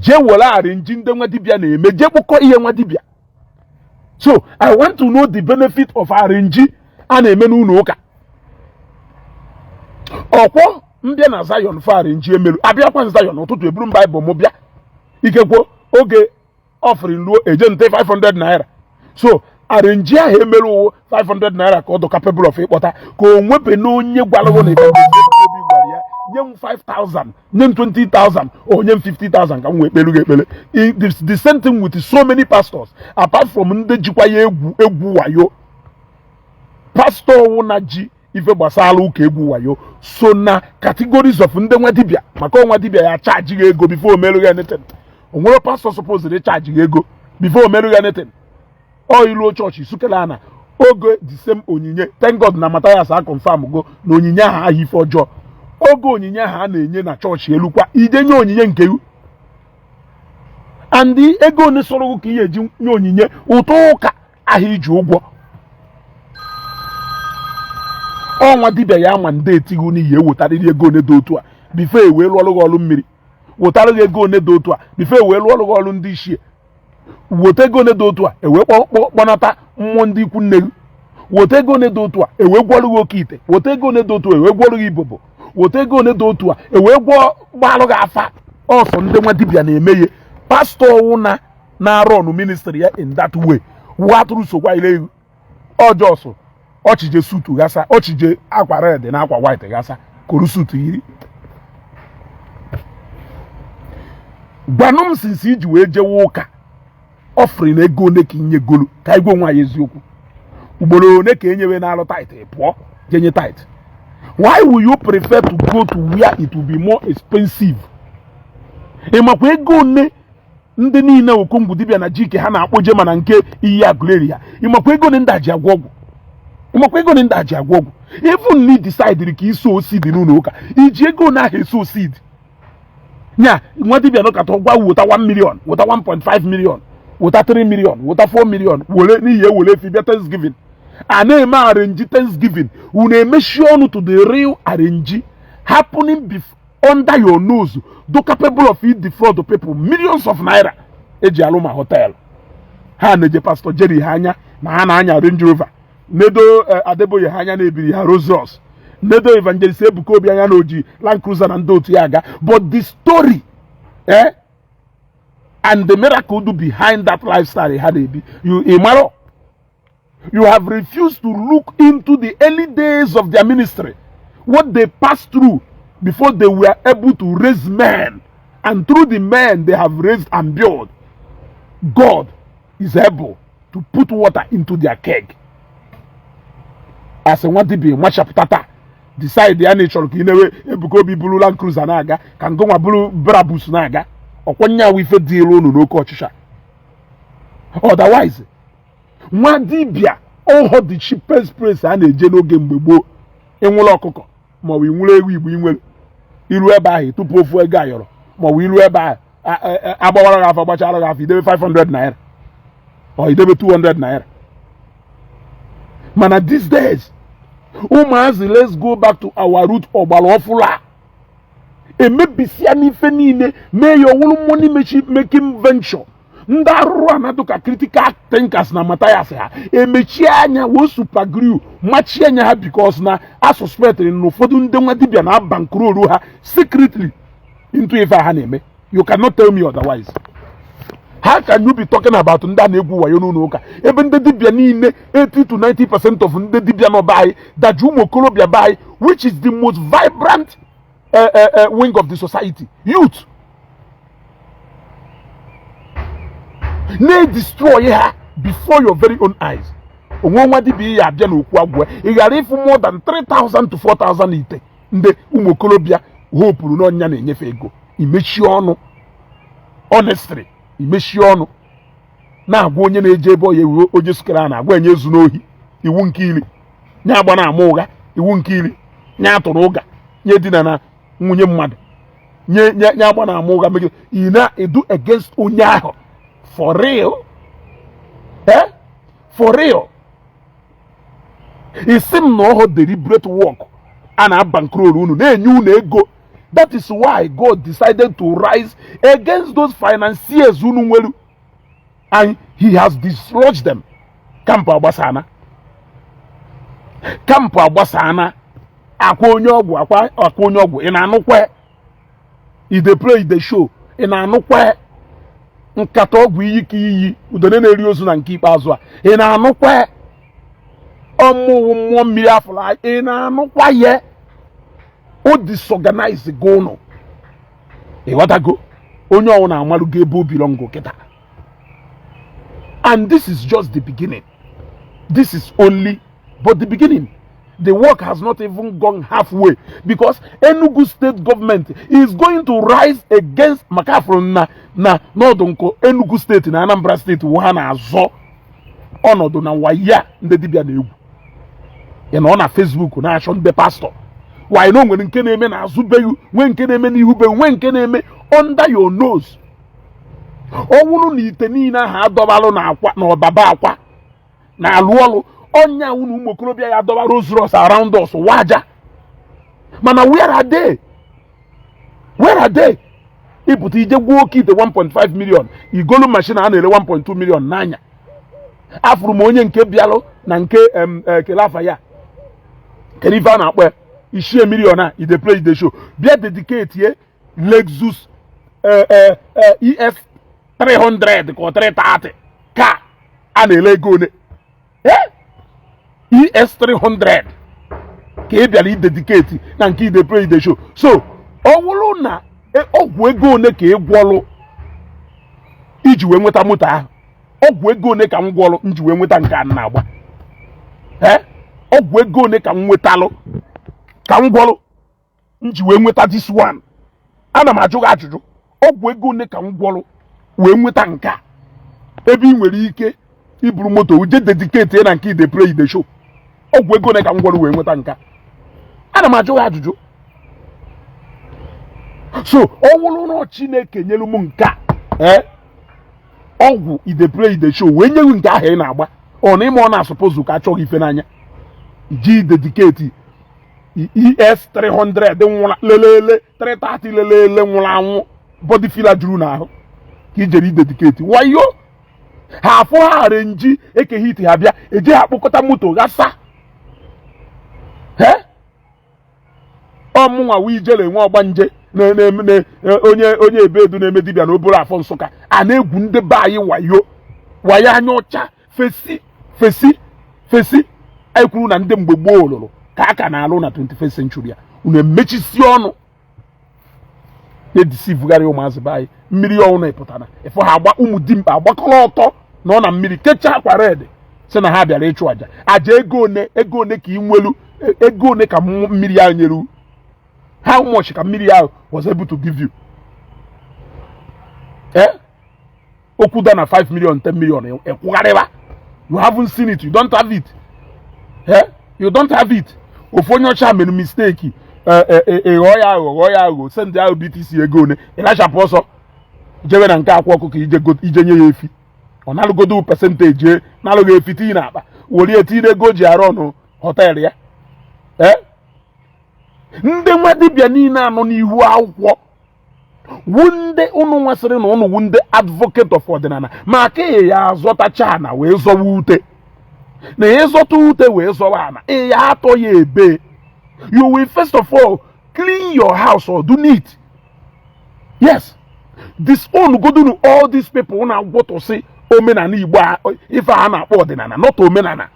jee were arrangee ndị nwa dibịa na-eme jee kpụkọ ihe nwa dibịa so i want to know the benefit of arrangee a na-eme n'ụlọ ụka ọkwọ m bịa na zion for arrangee emelu abịakwa zion ụtụtụ eburu m baịbụl m bịa ikekwo oge offering luo eje nte 500 naira so arrange ahụ emere ọ wụ 500 naira ka ọ dụ capable of ịkpọta ka o nwebe na onye gwara gị na Ebuka Obi gwara ya nye m 5000 nye m 20000 or nye m 50000 ka m wee kpelu gị ekpele the same thing with so many pastors apart from ndị jikwa ya egwu wayo pastọ ọwụna ji ife gbasara ụka egwu wayo so na categories of ndị nwa dibịa maka ọ nwa dibịa ya charge gị ego before o meru gị anything o nwere pastọ supposed ịcharge gị ego before o meru gị anything ọ iruo chọọchị sukere ana oge the same onyinye thank god na Matthias a confirm go na onyinye ahụ ahụ ife ọjọọ oge onyinye ahụ a na-enye na chọọchị elu kwa ije nye onyinye nke iwu and ego one sọrọ gị ka i ya eji nye onyinye ụtụ ụka ahụ iji ụgwọ ọ nwa dibịa ya ma ndị etighi na i ya ewetarịrị ego one dị otu a before e wee lụọrụ gị ọrụ mmiri wetarịrị ego one dị otu a before e wee lụọrụ gị ọrụ ndị ichie weta ego one dị otu a ewee kpọnata mmụọ ndị ikwu nne gị weta ego one dị otu a ewee gwọrụ gị oke ite weta ego one dị otu a ewee gwọrụ gị ibobo weta ego one dị otu a ewee gwọọ gbalụ gị afa ọ sọ ndị nwa dibịa na-eme ya pastọ ọwụna na-arun ministry ya in that way wụ atụrụ sokwa ile ọjọsụ ọ chije suit ghasa ọ chije akwa red na akwa white ghasa koro suit yiri gwanụ m since iji wee jewe ụka offering na ego one ka i nyegolu ka anyị gwa onwe anyị eziokwu ugboro one ka enyewe na-alụ tithe pụọ jenye tithe why will you prefer to go to where it will be more expensive ịmakwa ego one ndị niile okongwu dibịa na jike ha na-akpọje mana nke iyi agụleri ya ịmakwa ego one ndị a ji agwọ ọgwụ ịmakwa ego one ndị a ji agwọ ọgwụ even na i decide ka i sow seed n'ụlọ ụka iji ego na aha esow seed nya nwa dibịa nọkata ọ gwa wota 1 million wota 1.5 million wota 3 million wota 4 million were na i ya ewere efi bịa thanksgiving a na-eme arrange thanksgiving unu emechi ọnụ to the real arrange happening before under your nose dụ capable of ịdefraud people millions of naira eji alụ ma hotel ha neje pastọ Jerry ha anya na ha na-anya Range Rover nedo eh, Adeboye ha anya na-ebiri ha Rolls Royce nedo Evangelist Ebuka Obi anya na oji Land Cruiser na ndị otu ya aga but the story eh, and the miracle dụ behind that lifestyle ha na-ebi ịmarọ You have refused to look into the early days of their ministry, what they passed through before they were able to raise men. And through the men they have raised and built, God is able to put water into their keg. As nwa dibịa machapụta taa decide ya na ị chọrọ ka ị na-ewe Ebuka Obi buru Land Cruiser na-aga ka ngụnwa buru Brabus na-aga ọkwa ya wụ ife dịịrị unu n'oke ọchịchọ otherwise nwa dibịa ọhọ the cheapest place a na-eje n'oge mgbe gboo ịnwụrụ ọkụkọ maọbụ ịnwụrụ ewu igbo inwere iru ebe ahụ ị tụpụ ofu ego ayọrọ maọbụ iru ebe ahụ agbawara gị afa gbachara gị afa idebe 500 naira or idebe 200 naira mana these days ụmụazị let's go back to our root ọgbara ọfụrụ a emebisiana ife niile mee ya ọwụrụ money making venture ndị arụrụana dụ ka critical thinkers na Mathias ha emechie anya were super glue machie anya ha because na a suspectịrị na ụfọdụ ndị nwa dibịa na-abankrolu ha secretly into ife ha na-eme you cannot tell me otherwise how can you be talking about ndị a na-egwu wayo n'ụlọ ụka ebe ndị dibịa niile 80 to 90 percent of ndị dibịa nọ be anyị daji ụmụ okorobịa be anyị which is the most vibrant uh, uh, uh, wing of the society youth na-edestroy ha before your very own eyes o nwe nwa dibịa ị ya-abịa n'okwu agwụ ya ị ghara ịfụ more than 3000 to 4000 ite ndị ụmụ okorobịa hopụrụ n'ọnya na-enyefe ego imechi ọnụ honestly imechi ọnụ na-agwa onye na-eje ebe ọya ewu oje sukere a na-agwa nye ezuna ohi iwu nke iri nye agbana ama ụgha iwu nke iri nye atụna ụgha nye edinana nwunye mmadụ nye nye nye agbana ama ụgha megide ị na-edu against onye ahụ for real eh for real ị sị m na ọhọ deliberate work a na-abankrol unu na-enye unu ego that is why God decided to rise against those financiers unu nwere and he has dislodged them kampụ agbasana kampụ agbasana akwa onye ọgwụ akwa onye ọgwụ ị na-anụkwa i dey play i dey show ị na-anụkwa nkata ọgwụ iyi ka iyi udene na-eri ozu na nke ikpeazụ a ị na-anụkwa ọmụwụ mmụọ mmiri afụla ị na-anụkwa ya o disorganizego unu ị ghọtago onye ọwụna amalụgo ebe o bilọngụ kịta and this is just the beginning this is only but the beginning the work has not even gone halfway because Enugu state government is going to rise against maka afụrụ m na na ọ dụ ka Enugu state na Anambra state wụ ha na-azọ ọnọdụ na wayo a ndị dibịa na-egwu ya nọ na Facebook na-achọ ndị pastọ while na o nwere nke na-eme na azụ be ghị nwee nke na-eme n'ihu be ghị nwee nke na-eme under your nose ọ wụrụ na ite niile ahụ adọbalụ na Akwa na Ọba be Akwa na-alụ ọlụ ọ ya-awụ na ụmụ okorobịa ya-adọba Rolls Royce around us waja mana where are they where are they ị pụta i je gwọọ oke ite 1.5 million i golu machine a na-ere 1.2 million naira afụrụ m onye nke bịalụ na nke e, kele afa ya kedu ife a na-akpọ ya Ichie Million a e dey play e dey show bịa dedicate ye Lexus eh, eh, eh, ES 300 ka ọ 330 ka a na-ele ego one ES 300 ka ị bịara idedicate na nke e dey play e dey show so ọ wụrụ na ọgwụ ego one ka ị gwọlụ i ji wee nweta moto ahụ ọgwụ ego one ka m gwọlụ m ji wee nweta nke m na-agba ọgwụ ego one ka m nwetalụ ka m gwọlụ m ji wee nweta this one ana m ajụ gị ajụjụ ọgwụ ego one ka m gwọrọ wee nweta nke a ebe ị nwere ike iburu moto wu je dedicate ya na nke e dey play e dey show ọgwụ ego one ka m gwọrọ wee nweta nke a ana m ajụ gị ajụjụ so ọ wụrụ na Chineke nyelu m nke a eh, ọgwụ e dey play e dey show wee nye wu nke ahụ ị na-agba ọ na ịma ọ na-asuppose ka achọghị ife n'anya ji dedicate ES 300 nwụla lelele 330 lelele nwụrụ anwụ body filler juru n'ahụ ka i jere idedicate wayo ha afụ ha arrange Eke Hit ha bịa eje ha akpokọta moto ghasa ọ mụnwa wụ Ijele nwe ọgbanje onye onye ebedu na-eme dibịa na Obollo Afọ Nsụka a na-egwu ndị be anyị wayo wayo anya ọcha fesi fesi fesi anyị kwuru na ndị mgbe gboo lụrụ ka a ka na-alụ na 21st century a unu emechisi ọnụ na-edeceivegharị ụmụazị be anyị mmiri ọ wụ na ị pụtara ị fụ ha agba ụmụ dimkpa agbakọrọ ọtọ nọ na mmiri kechaa akwa red sị na ha bịara ịchụ aja aja ego one ego one ka ị nwelu e, ego one ka mmiri ahụ nyere how much ka mmiri ahụ was able to give you eh? okwu da na 5 million 10 million ekwugharịwa you haven't seen it you don't have it eh? you don't have it ofu onye ọcha mere mistake ịghọ eh, eh, eh, ya aghọ ghọọ ya aghọ sendị ahụ BTC ego one ị nachapụ ọsọ jewe na nke Akwa Ọkụkọ i je nye ya efi ọ nalụgodo percentage nalụ gị efi tinye na akpa welie tinye ego ji arụ ụnọ hotel ya ndị nwa dibịa niile a nọ n'ihu akwụkwọ wụ nde unu nwa sịrị na unu wụ nde advocate of ọdịnala maka ị ya azọtacha ana wee zọwa ute na ị zọta ute wee zọwa ana ị ya atọ ya ebe you will first of all clean your house ọ dụ neat yes disown godunu all these people na-agwọtọsị omenala igbo ife a na-akpọ ọdịnala not omenala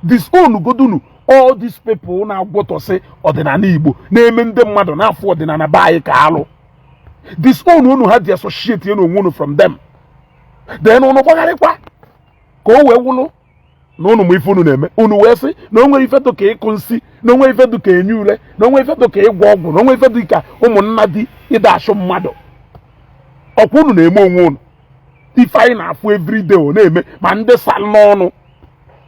disown godunu all these people na-agwọtọsị ọdịnala igbo na-eme ndị mmadụ na-afụ ọdịnala be anyị ka alụ disown unu ha disassociate ya na onwe unu from them then unu gbagharịkwa ka o wee wụlụ na unu ma ife unu na-eme unu wee sị na o nwe ife dị ka ịkọ nsi na o nwe ife dị ka enyi ule na o nwe ife dị ka ịgwọ ọgwụ na o nwe ife dị ka ụmụnnadi ịda achụ mmadụ ọ kwa unu na-eme onwe unu ife anyị na-afụ everyday ọ na-eme ma ndị saa n'ọnụ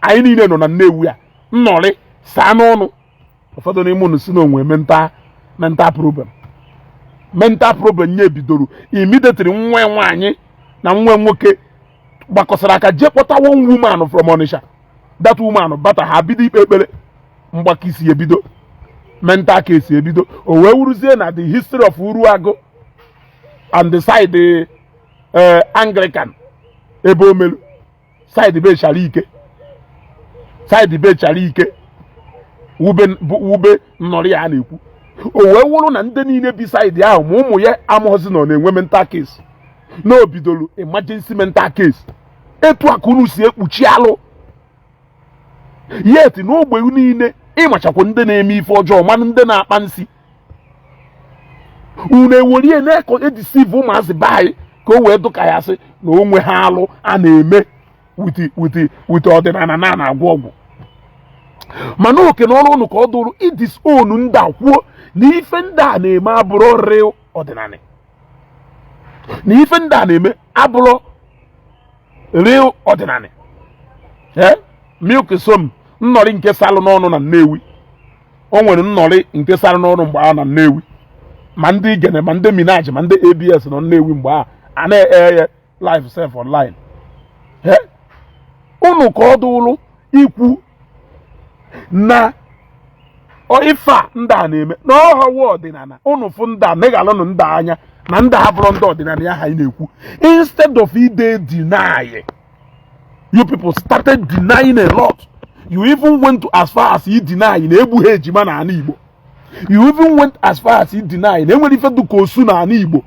anyị niile nọ na Nnewi a nnọrị saa n'ọnụ ụfọdụ n'ime unu sị na o nwe mental mental problem mental problem ya bidoro immediately nwa nwaanyị na nwa nwoke gbakọsara aka jee kpọta one woman from Onitsha that woman bata ha bido ikpe ekpere mgbaka isi ebido mental case ebido o wee wụrụzie na the history of Uruagụ and the side eh, anglican ebe o melu side be chara ike side be chara ike wụ ebe wụ ebe nnọrị ya a na-ekwu o wee wụrụ na ndị niile bi side ahụ ma ụmụ ya amụghọzi nọ na-enwe mental case na o bidoro emergency mental case etu a ka unu si ekpuchi alụ yet n'ogbe niile ị machakwa ndị na-eme ife ọjọọ manụ ndị na-akpa nsi unu ewerie na-ekọ edeceive ụmụazị be anyị ka o wee dụ ka ya sị na o nweha alụ a na-eme with with with ọdịnala na a na-agwọ ọgwụ mana oke na ọrụ unu ka ọ dụrụ ịdisown ndị a kwuo na ife ndị a na-eme abụrọ real ọdịnala na ife ndị a na-eme abụrọ real ọdịnala ee milk som nnọrị nke salụ n'ọnụ na Nnewi o nwere nnọrị nke sara n'ọrụ mgbe ahụ na Nnewi ma ndị Igene ma ndị Minaj ma ndị ABS nọ Nnewi mgbe ahụ a na-air ya live sef online unu ka ọ dụụrụ ikwu na ife a ndị a na-eme na ọhawa ọdịnana unu fụ ndị a neghalụnụ ndị a anya na ndị a abụrọ ndị ọdịnana ya ha ị na-ekwu instead of ị de- deny you people started denying a lot you even went to as far as you deny na egbughị ejima na ana igbo you even went as far as you deny na e nwere ife dụ ka osu na ana igbo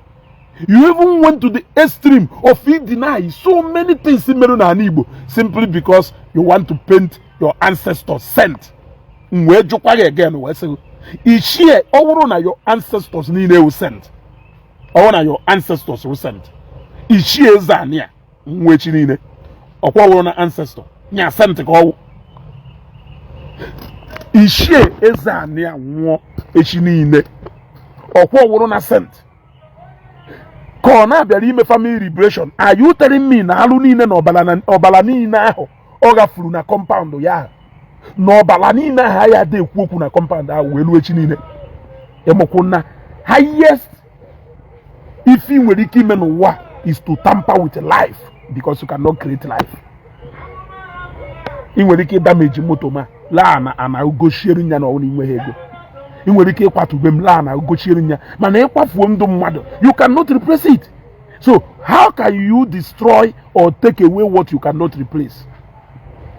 you even went to the extreme of you deny so many things merụ na ana igbo simply because you want to paint your ancestors saint m wee jụkwa gị again wee sị ichie ọ wụrụ na your ancestors niile wụ saint ọ wụrụ na your ancestors wụ saint ichie ezeanị a nwụọ echi niile ọkwa wụrụ na ancestor nya saint ka ọ wụ ichie ezeanị a nwụọ echi niile ọkwa wụrụ na saint ka ọ na-abịara ime family liberation are you telling me na alụ niile na ọbara na- ọbara niile ahụ ọ ghafuru na compound ya ahụ na ọbara niile ahụ ya adị ekwu okwu na compound ahụ wee ruo echi niile ị makwa na highest ife ị nwere ike ime n'ụwa is to tamper with life because you cannot create life ị nwere ike ịdamage moto ma laa na ana gochiere nya na ọ wụ na i nweghị ego ị nwere ike ịkwatu ube m laa na gochiere nya mana ịkwafuo ndụ mmadụ you cannot replace it so how can you destroy or take away what you cannot replace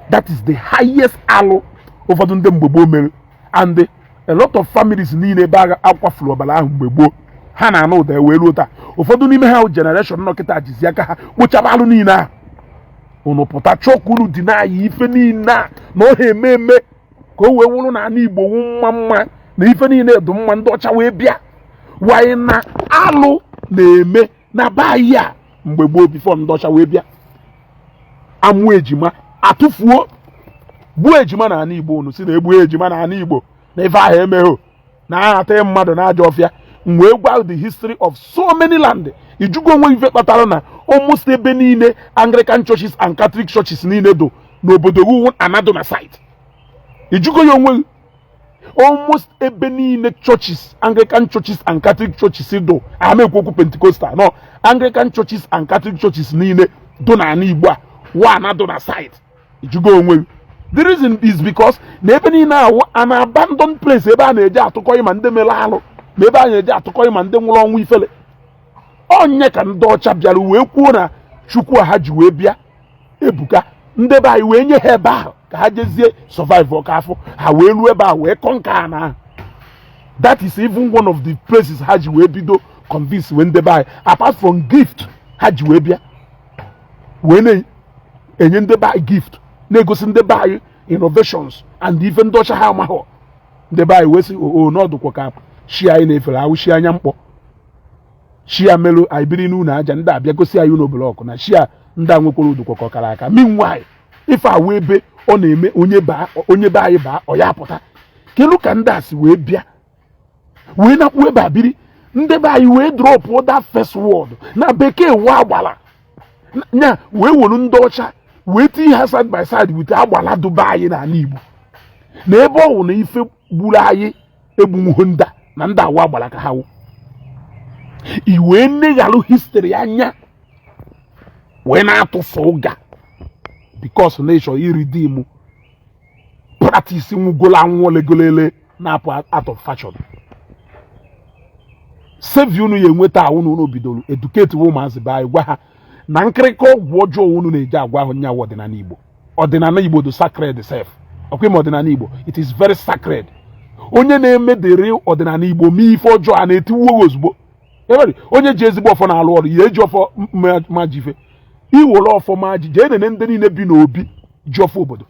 that is the highest alụ ụfọdụ ndị mgbe gboo mere and a lot of families niile ebe ahụ a kwafuru ọbara ahụ mgbe gboo ha na-anụ ụda wee ruo taa ụfọdụ n'ime ha generation nọ kịta jizi aka ha kpochaba alụ niile ahụ unu pụta chọọ ka unu deny ife niile a na ọ ha eme eme ka o wee wụrụ na ana igbo wụ mma mma na ife niile dụ mma ndị ọcha wee bịa while na alụ na-eme na be anyị a mgbe gboo before ndị ọcha wee bịa a mụa ejima a tụfuo gbuo ejima na ana igbo unu sị na egbughọ ejima na ana igbo na ife ahụ emeghọ na ahata mmadụ na ajọ ọfịa m wee gwa the history of so many land ị jụgo onwe gị ife kpatara na almost ebe niile anglican churches and catholic churches niile dụ n'obodo wa na-adụ na side ị jụgo ya onwe almost ebe niile churches anglican churches and catholic churches dụ ama ekwu okwu pentecostal no anglican churches and catholic churches niile dụ na ana igbo a wa na-adụ na side ị jụgo onwe gị. the reason is because na ebe niile ahụ wụ an abandoned place ebe a na-eje atụkọghị ma ndị mere alụ ma ebe a na-eje atụkọghị ma ndị nwụrụ ọnwụ ifele ọ nya ka ndị ọcha bịara wee kwuo na chukwu a ha ji wee bịa ebuka ndị be anyị wee nye ha ebe ahụ ka ha jezie survive ọka afọ ha wee ruo ebe a wee conquer ana ahụ that is even one of the places ha ji wee bido convince wee ndị be anyị apart from gift ha ji wee bịa wee na-enye ndị be anyị gift na-egosi ndị be anyị innovations and ife ndị ọcha ha amaghọ ndị be anyị wee sị oo oh, oh, na ọ dụkwa ka shi anyị na-efere awụ shi anya mkpọ shi a melu anyị biri n'ụlọ aja ndị abịa gosi anyị ụlọ blọkụ na shi ndị a nwekwara ọ dụkwa ka ọ kara aka meanwhile ife a wụ ebe ọ na-eme onye baa onye be anyị baa ọ ya apụta kelu ka ndị a si wee bịa wee nakwu ebe a biri ndị be anyị wee drop that first word na bekee wụ agbala nya wee wolu ndị ọcha wee tinye ha side by side with agbala dụ be anyị n'ala Igbo na ebe ọ wụ na ife gburu anyị egbu nuhu nda na ndị a wụ agbala ka ha wụ i wee neghalụ history anya wee na-atụfu ụga because na ịchọ iridim practice nwugolo anwụ olegolele na-apụ out of fashion save unu ya enweta wụ na unu bidoro educate ụmụazị be anyị gwa ha na nkịrịka ọgwụ ọjọọ unu na-eje agwọ ahụ nya wụ ọdịnala Igbo ọdịnala Igbo dụ sacred sef ọkwa ime ọdịnala Igbo it is very sacred onye na-eme the real ọdịnala Igbo mee ife ọjọọ a na-etiwu e ozugbo every onye ji ezigbo ọfọ na-alụ ọrụ ya eji ọfọ ma jife i were ọfọ ma ji jee nene ndị niile bi n'obi ji ọfọ obodo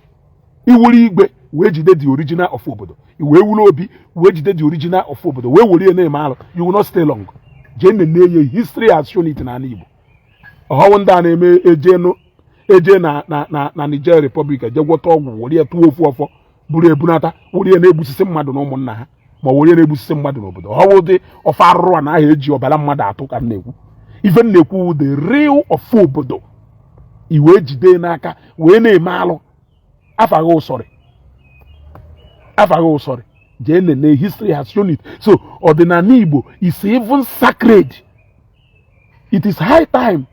ị wụrụ igwe wee jide the original ọfọ obodo i wee wụrụ obi wee jide the original ọfọ obodo wee were ya na-eme alụ you will not stay long jee nene ya history has shown it n'ala Igbo ọ họ wụ ndị a na-eme ejenu eje na na na na Niger Republic eje gwọta ọgwụ were ya tụọ ofu ọfọ buru ebunata were ya na-egbusisi mmadụ na ụmụnna ha ma ọ were ya na-egbusisi mmadụ n'obodo ọ họ ụdị ọfọ arụrụana ahụ e ji ọbara mmadụ atụ ka m na-ekwu ife m na-ekwu wụ the real ọfọ obodo i wee jide n'aka wee na-eme alụ afaghị ụsọrị afaghị ụsọrị jee nene history has shown it so ọdịnala Igbo is even sacred it is high time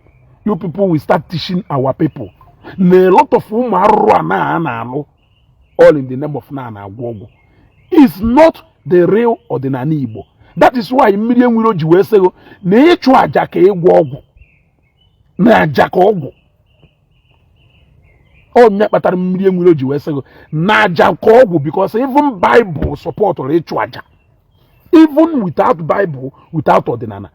you people will start teaching our people na a lot of ụmụ arụrụana a na-alụ all in the name of na na-agwọ ọgwụ is not the real ọdịnala Igbo that is why Mmiri enwe iro ji wee sị gị na ịchụ aja ka ịgwọ ọgwụ na aja ka ọgwụ ọ ya kpatara Mmiri enwe iro ji wee sị gị na aja ka ọgwụ because even Bible supportụrụ ịchụ aja even without Bible without ọdịnala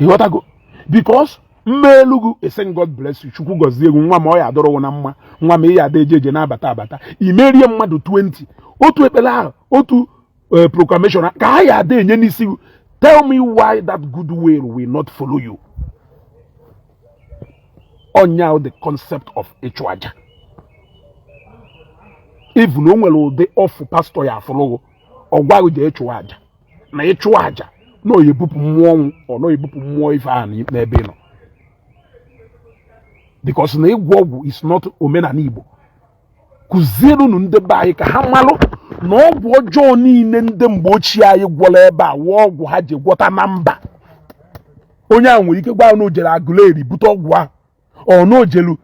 ịghọtago because m meelu ghụ esen god bless you chukwu gọzie ghụ nwa m ọ ya adụrụ ghụ na mma nwa m ị ya ada eje eje na-abata abata i merie mmadụ 20 otu ekpere ahụ otu eh, proclamation ka ha ya ada enye n'isi tell me why that good will will not follow you ọ nya the concept of ịchụ aja even o nwere ụdị ọfụ pastọ ya afụrụ ghụ ọ gwa ghị je ịchụ aja na ịchụ aja na ọ ya ebupụ mmụọ ọnwụ or na ọ ya ebupụ mmụọ ife ahụ n'ebe ị nọ because na ịgwọ ọgwụ is not omenala Igbo kụzierunu ndị be anyị ka ha malụ na ọgwụ ọjọọ niile ndị mgbe ochie anyị gwọrọ ebe a wụ ọgwụ ha ji gwọta na mba onye ahụ nwere ike gwa na o jere aguleri bute ọgwụ ahụ or na o jelu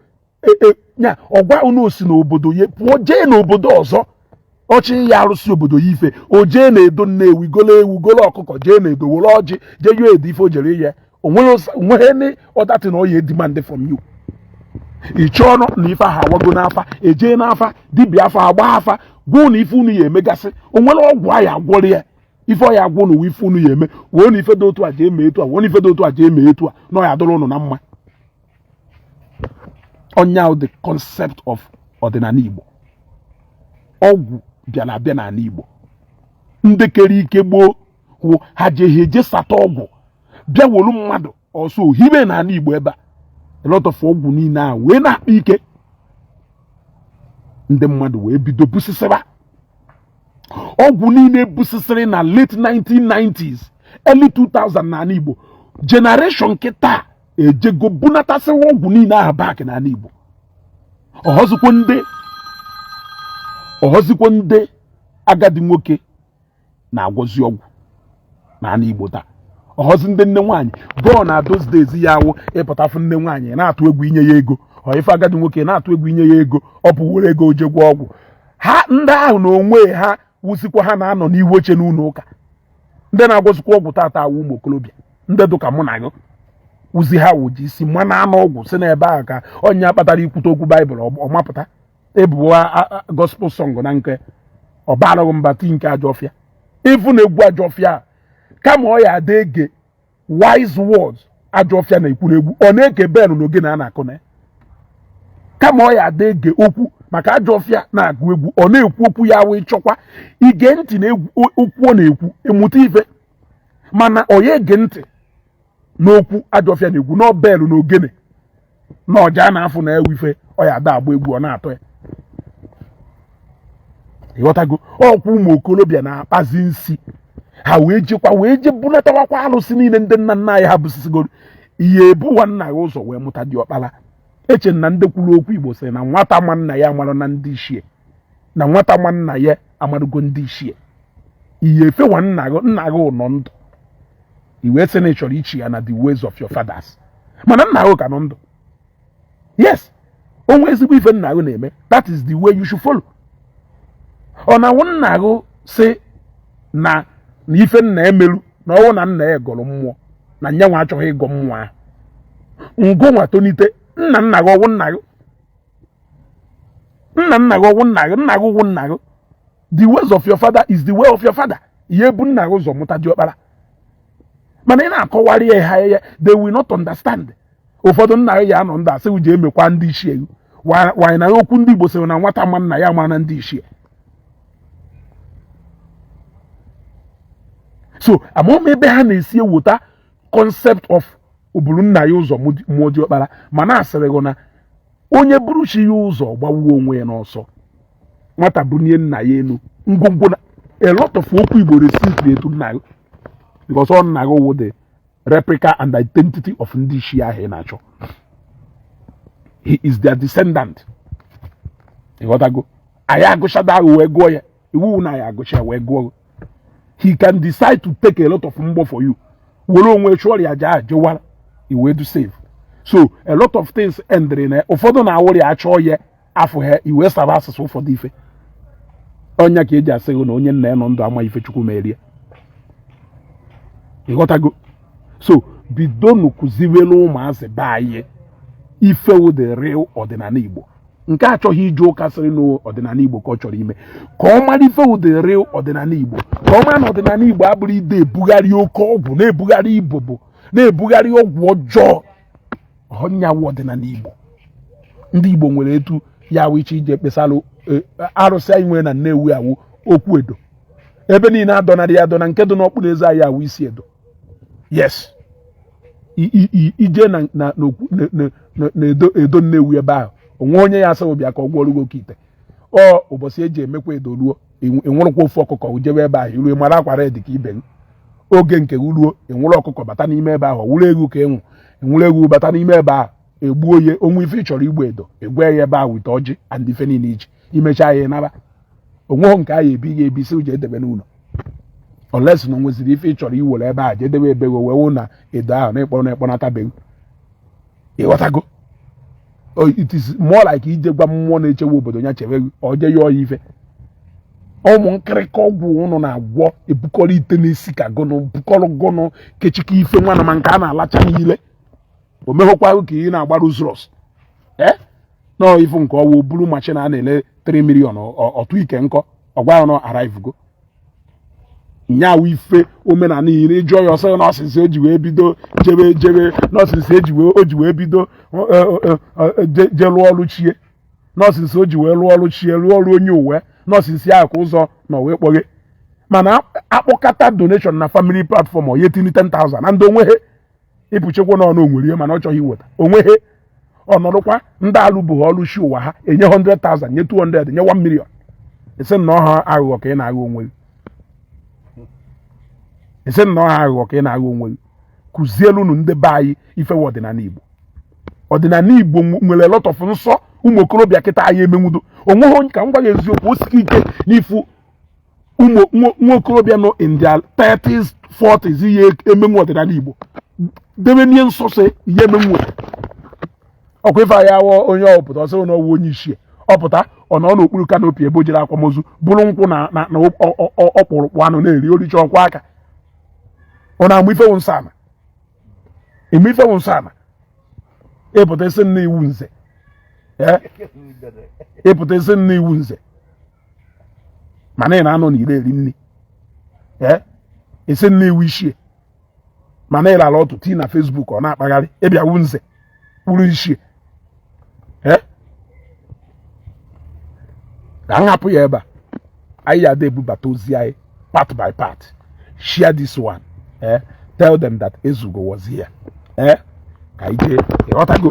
e, e, ya ọ gwa unu o si n'obodo ya pụọ jee n'obodo ọzọ ọ chọ ịyọ arụsị obodo ya ife o jee na edo nnewi golo ewu golo ọkụkọ jee na edo were ọjị jee yọ edo ife o jere ihe o nweghị any other thing na ọ ya edemand from you iche ọnụ na ife ahụ awago n'afa e jee n'afa dibịa afa agba afa gwa unu ife unu ya emegasị o nwere ọgwụ a ya agwọrọ ya ife ọ ya agwa unu wụ ife unu ya eme weenụ ife dị otu a jee mee etu a weenụ ife dị otu a jee mee etu a na ọ ya adụrụ ụnụ na mma ọ nya the concept of ọdịnala Igbo ọgwụ bịara abịa n'ala Igbo ndị kere ike gboo wụ ha jehe eje sata ọgwụ bịa wolu mmadụ ọsọ hibe n'ala Igbo ebe a a lot of ọgwụ niile a wee na-akpa ike ndị mmadụ wee bido busisịba ọgwụ niile busisịrị na late 1990s early 2000 n'ala Igbo generation nke taa ejego bunatasịwa ọgwụ niile aha back n'ala Igbo ọhọzikwọ ndị agadi nwoke na-agwọzi ọgwụ n'ala Igbo taa ọhọzi ndị nne nwaanyị gboo na those days ya awụ ị pụta fụ nne nwaanyị na-atụ egwu i nye ya ego or ị fụ agadi nwoke na-atụ egwu i nye ya ego o buwere ego o jee gwọ ọgwụ ha ndị ahụ na onwe ha wụzikwa ha na-anọ n'ihu oche n'ụlọ ụka ndị na-agwọzikwa ọgwụ tata awụ ụmụ okorobịa ndị dụka mụ na gị wụzi ha wụ ji isi ma na anụ ọgwụ si n'ebe ahụ ka onye kpatara i kwute okwu baịbụl ọ mapụta ebuwa gospel song na nke ọ barụ ghị mba ti nke ajọfịa ị fụ na egwu ajọfịa kama ọ ya ada ege wise words ajọ ọfịa na-ekwu na egwu ọ na-ege bell na ogene a na-akụ na kama ọ ya ada ege okwu maka ajọ ọfịa na-agụ egwu ọ na-ekwu okwu ya wụ ị chọkwa ige ntị na okwu ọ na-ekwu ị mụta ife mana ọ ya ege ntị n'okwu ajọ ọfịa na-ekwu na ọ bell na ogene na ọja na-afụ na ya wụ ife ọ ya ada agba egwu ọ na-atọ ya ịghọtago ọkwa ụmụ okolobịa na-akpazi nsi ha wee jekwa wee je bunatawakwa alụsị niile ndị nna nna anyị ha busisigoro ihe ebuwa nna ya ụzọ wee mụta diọkpara eche na ndị kwuru okwu igbo sị na nwata ma nna ya amarana ndị ichie na nwata ma nna ya amarụgo ndị ichie ihe efewa nna gị nna gị nọ ndụ i wee sị na ị chọrọ ichi ya na the ways of your fathers mana nna gị ka nọ ndụ yes o nwe ezigbo ife nna gị na-eme that is the way you should follow ọ na-awụ nna gị sị na ife nna emelu na ọ wụ na nna ya gọrọ mmụọ na nyanwa achọghị ịgọ mmụọ ahụ ngụ nwa tonite nna nna gị ọ wụ nna gị nna nna gị ọ wụ nna gị nna gị ọ wụ nna gị the ways of your father is the way of your father ị ya-ebu nna gị ụzọ mụta diọkpara mana ị na-akọwara ha ya they will not understand ụfọdụ nna gị ya anọ ndụ a sị je emekwa ndị ichie gị wanyị na okwu ndị Igbo sịrị na nwata ma nna ya amana ndị ichie so amaghị m ebe ha na-esi eweta concept of o buru nna ya ụzọ mụọ ọkpara mana a sịrị gị na onye buru chi ya ụzọ gbawuo onwe ya n'ọsọ nwata bunie nna ya elu ngwongwo na a lot of okwu igbo respect nna gị because ọ nna gị wụ the replica and identity of ndị ichie ahụ ị na-achọ he is their descendant ịghọtago anyị agụchada ahụ wee gụọ ya iwu na ya agụcha wee gụọ he can decide to take a lot of mgbọ for you were onwe chụọrọ ya aja jewara i wee dị safe so a lot of things endịrị na ụfọdụ na-awụrụ ya achọọ ya afọ ha ewee sụba asụsụ ụfọdụ ife ọ nya ka eji asị gị na onye nna ya nọ ndụ ama ife chukwu meere ya ịghọtago so bidonu kụziwere ụmụazị be anyị ife wụ the real ọdịnala igbo nke achọghị ije ụka sịrị na ọdịnala Igbo ka ọ chọrọ ime ka ọ mara ife wụ the real ọdịnala Igbo ka ọ mara na ọdịnala Igbo abụrọ ide ebugharị oke ọgwụ na-ebugharị ibobo na-ebugharị ọgwụ ọjọọ ọ nya wụ ọdịnala Igbo ndị Igbo nwere etu ya awụ iche ije kpesara e, arụsị anyị nwere na Nnewi awụ Okwu Edo ebe niile adọnarị ya adọna nke dị n'Ọkpụnọeze anyị awụ Isi Edo yes ije na na na edo edo Nnewi ebe ahụ o nwe onye ya-asị gị bịa ka ọ gwọrọ gị oke ite ọ ụbọchị eji emekwa edo ruo ị nwụrụkwa ofu ọkụkọ jebe ebe ahụ i ruo mara akwa dị ka ibe oge nke ruo ị nwụrụ ọkụkọ bata n'ime ebe ahụ ọ wụrụ ewu ka ị nwụ ị nwụrụ ewu bata n'ime ebe ahụ egbuo ya o nwe ife ị chọrọ ịgwa edo ị gwa ya ebe ahụ wete ọjị and ife niile iji imecha ya naba onweghị nke anyị ebi ga-ebi si uche edebe n'ụlọ unless na o nweziri ife ị chọrọ iwere ebe a jedebe ebego wee wụ na edo ahụ na ịkpọrọ na ịkpọnatabego ịghọtago it is more like ije gwa mmụọ na-echewe obodo ya chebe oje ya ọya ife ụmụ nkịrịka ọgwụ unu na-agwọ ebukọrọ ite n'isi ka gụnụ bukọrọ gụnụ kechika ife nwana ma nke a na-alacha niile o meghọkwa ka ị na-agba Rolls-Royce ee eh? na ifu nke ọwụ buru machin a na-ele 3 million ọtụ ike nkọ ọ gwa unu arrive go na ya wụ ife omenala iyi na ị jụọ ya ọ sị na ọ since o ji wee bido jebe jebe na ọ since o ji wee o ji wee bido e, e, e, je lụọ ọrụ chi e na ọ since o ji wee lụọ ọrụ chi e lụọ ọrụ onye ụwa e na ọ since ya ka ụzọ na wee kpọghe mana a kpọkata donation na family platform ọ ya etinye 10,000 na ndị onweghị ịpụchekwa na ọnụ onwere ihe mana ọ chọghị iweta onweghị ọ nọdụkwa ndị alụbeghị ọlụ chi ụwa ha enye 100,000 nye 200 nye 1 million asị na ọ aghụghọ ka ị na-aghọ onwe gị asị na ọ aghụghọ ka ị na-aghọ onwe gị kụzielu unu ndị be anyị ife wụ ọdịnala Igbo ọdịnala Igbo nwere lot of nsọ ụmụ okorobịa kịta anyị emenwudo onweghị onye ka m gwa gị eziokwu o sike ike na ịfụ nwa okorobịa nọ in their 30s 40s ya emenwu ọdịnala Igbo debe n'ihe nsọsọ ihe emenwu ọkwa ife anyị awọ onye ọ pụta ọ sị na ọ wụ onye ichie ọ pụta ọ nọ n'okpuru kanopi ebe o jere akwamozu buru nkwụ na ọkpụrụkpụ anụ na-eri o richa ọ kwọọ aka ọ na-ama ife wụ nsọ ana ị ma ife wụ nsọ ana ị pụta ị sị na ị wụ nze ị pụta ị sị na ị wụ nze mana ị na-anọ n'iro eri nri ee ị sị na ị wụ ichie mana ị lara ọtụ tii na Facebook ọ na-akpagharị ị bịa wụ nze wụrụ ichie ee ka m hapụ ya ebe a anyị ya ebubata ozi anyị part by part share this one eh tell them that Ezugo was here eh ka ije ịghọtago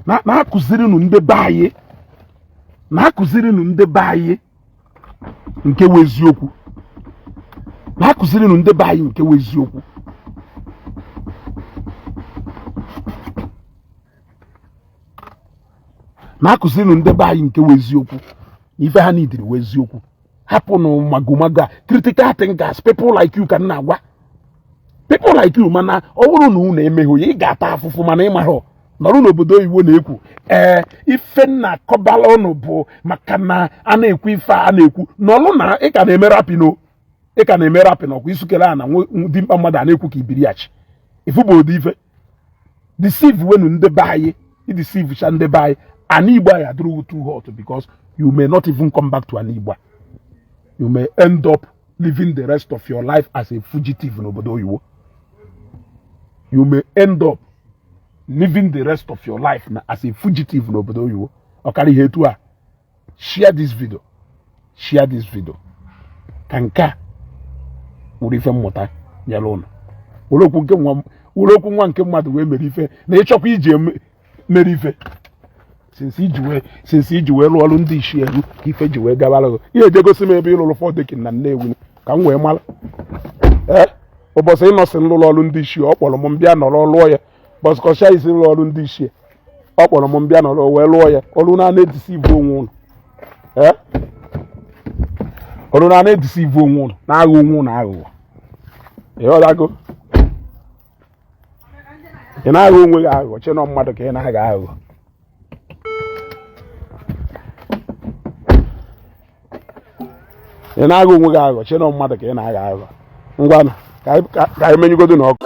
na-akụzirinụ ndị be anyị na-akụzirinụ ndị be anyị nke wụ eziokwu na-akụzirinụ ndị be anyị nke wụ eziokwu na-akụzirinụ ndị be anyị nke wụ eziokwu na ife ha nidiri wụ eziokwu hapụnụ magomago a critical thinkers people like you ka m na-agwa people like you mana ọ bụrụ na unu emeghị ya ị ga-ata afụfụ mana ị maghị nọrọ n'obodo oyibo na-ekwu ee ife m na-akọbala unu bụ maka na a na-ekwu ife a na-ekwu nọrụ na ị ka na-eme rapino ị ka na-eme rapin ọkwa isukere a na dimkpa mmadụ a na-ekwu ka ibiriachi ifu bụ ụdị ife deceive wenu ndị be anyị i deceive cha ndị be anyị ana igbo ya adịrụ ghị too hot because you may not even come back to ana igbo you may end up living the rest of your life as a fugitive n'obodo oyibo you may end up living the rest of your life as a fugitive n'obodo oyibo ọkara ihe etu a share this video share this video ka nke a wụrụ ife mmụta nyere ụnụ were okwu nwa nke mmadụ wee mere ife na ịchọkwa iji mere ife since i ji wee lụọ ọrụ ndị isi elee ka ife ji wee gabara gị ihe eje gosi m ebe ị lụrụ four decking na nnewi ka m wee mara ee ụbọchị ị nọ sị m lụrụ ọrụ ndị isi ọ kpọrọ m m bịa nọrọ lụọ ya but kọsha isi rụrụ ọrụ ndị ichie ọ kpọrọ m m bịa nọrọ wee lụọ ya nọrọnụ na-edeceive onwe ụnụ ee nọrọnụ na-edeceive onwe ụnụ na-aghọ onwe ụnụ aghụghọ ị ghọtago ị na-aghọ onwe gị aghụghọ che na ọ mmadụ ka ị na-aghọ aghụghọ ị na-aghọ onwe gị aghụghọ che na ọ mmadụ ka ị na-aghọ aghụghọ ngwanụ ka anyị menyụgodonụ ọkụ